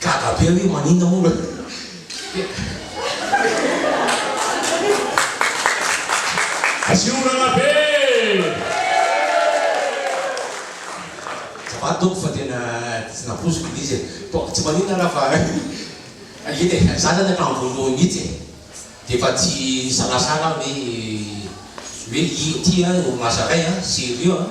Gaga be aho hoe maninona moa raha Asia orana be! Azafady tompoko fa tena tsy nampoiziko ilay izy e. Bon, tsy maninona raha fa eny e, za zany hatramin'ny voalohany mihitsy e, dia efa tsy nisalasala aho hoe hoe ity an orinasa iray an, sérieux an.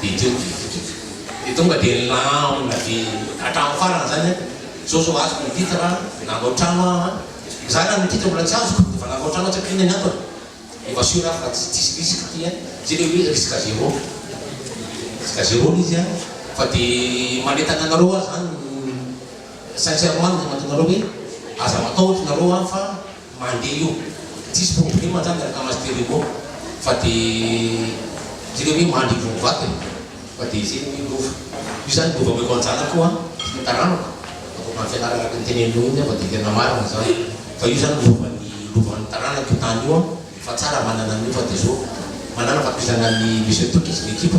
Dia teo dia vokiko. Dia tonga dia nilamina be hatramin'ny farany izany aho. Izao izao azoko ny titre an, nanao trano aho an. Izaho na ny titre mbola tsy azoko, dia efa nanao trano aho tsy haiko inona ny antony. Efa sûr aho fa tsy tsisy risque ity an, tsy ilay hoe risque zéro, risque zéro ilay izy an, fa dia manentana anareo aho izany sincèrement no manentana anareo hoe aza matahotra ianareo an fa Mandeha io. Tsisy problema zany ny akama stereo fa de zay le hoe mandry vao mivaky e! Fa de zay le hoe lova. Io zany lova omeko an-janako an, sy ny taranako, ataoko amin'ny fianarana araka ny teneninao iny an fa de tena marina zany. Fa io zany lovan'ny lovan'ny taranako io tany io an, fa tsara manana an'io fa de zao manana fankizana an'i Monsieur Toky sy ny ekipa.